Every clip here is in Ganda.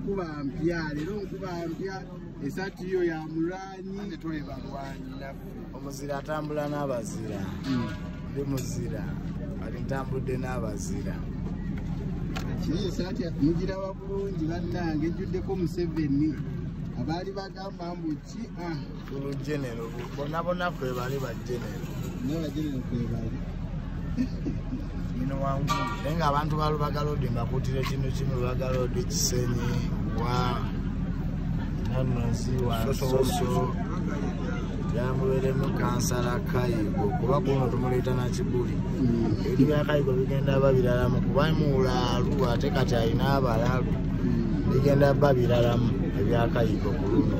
nkuba mpya leero nkuba mpya esaati yo ya mulwanyi ate tuli balwanyi naffe omuzira atambula n'abazira hmm. ndi muzira ali ntambudde n'abazira kiri esaati mugiraba bulungi bannange ejjuddeko museveni abaali bagamba mbu ki ah. Bulu genero bona bona kwe bali ba genero. Ne ba genero kwe bali. Mino wangu. Nenga abantu balu bagalo de makutire kino kino bagalo de kisenyi wa nanu ziwa soso. So, yamuweremu kansala kayigo kuba kuno tumuleeta nakibuli mm. ebintu bya kayigo bigenda ba biralamu kuba muwulaalu ate kati alina abalalu mm. bigenda ba biralamu ebya kayigo ku luno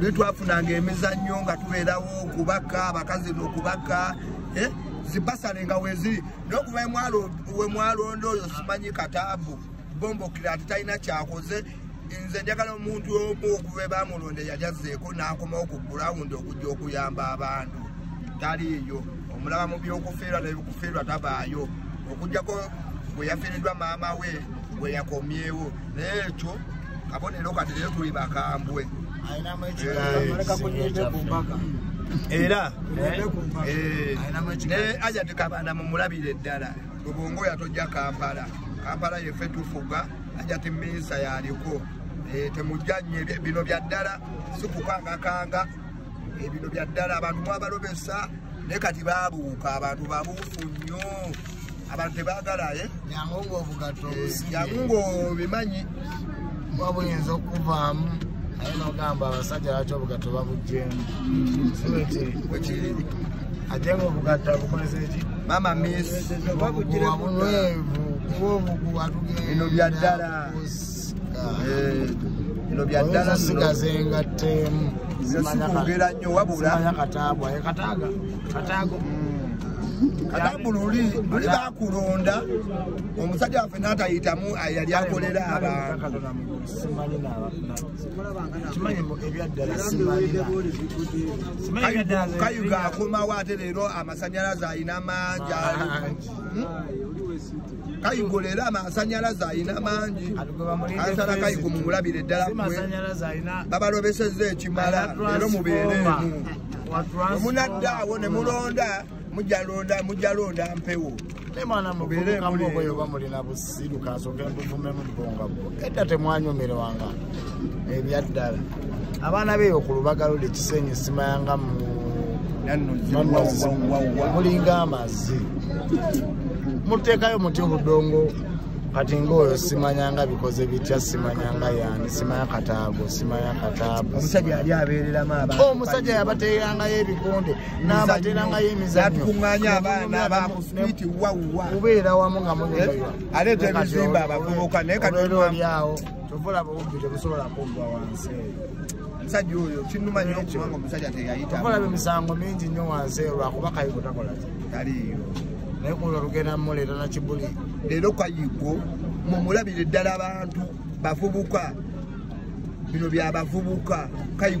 lwe twafunanga emizannyo nga tubeerawo okubaka abakazi nokubaka eh, zibasale nga weziri nokuva wemwalonda oyo simanyi kataabu bombokira ati talina kyakoze nze njagala omuntu omu okuva ebamulonda yajazeeko nakomawo ku gulawundi okujja okuyamba abantu taliiyo omulaba mu byokufiirwa nebikufiirwa tabaayo okujjako bweyafiiriddwa maama we gwe yakomyewo naye ekyo kabonero kati naye tuli bakambwe era eh, ne ajati kabanda mumulabire eddala lubongo yatojja kampala kampala yefe tufuga ajati minsa yaliko eh, temujja nye bino bya ddala sikukangakanga ebino eh, bya ddala abantu mwabalobesa naye kati babuuka abantu babuufu nnyo abantu tebagala ye yangu ngaobugatto yangu ngaobimanyi kuba buyinza okuvaamu naye nogamba abasajja lwaki obugatto babujjemu wekiri ate nga obugatto abukozesa eki mama mis wabunwevu kuba obugu atugenda bino byaddala bino byaddala sigaza engatteemu sikwogera nnyo wabula kataago kataago katabu luli luli bakulonda omusajja waffe natayitamu yali akolera abantu kayuga akomawo ate leero amasanyalaze alina mangi kayigo leero amasanyalaze alina mangi kansala kayigo mumulabire ddala kwe babalobeseza ekimala leero mubeereemu omunadda awo ne mulonda mujalonda mujalonda mpewo mubeereemu leero edda temwanyumirwanga ebyaddala abaana beeyo ku lubaga luli kisenyi simayanga mu mulinga amazzi muteekayo mutya obudongo kati ngaoyo simanyanga bikoze bitya simanyanga yani simanya kataago simanya kataago omusajja yali abeereramu abantu omusajja yabateerangayo ebikonde n'abateerangayo emizanyoatunganya abaana bamuswiti wawa kubeera wamu nga muneeyo eh, aleeta ebizimba abavubuka naye kati olyawo tovolaba obubbi tebusobola kuggwa wansi omusajja oyo kinuma nyo kubanga omusajja teyayita ovolaba emisango mingi nnyo wansi eyo lwakuba kayigo takola taliyo naye kulo olugenda muleeta na kibuli leero kayigo mumulabire ddala abantu bavubuka bino byabavubuka kayigo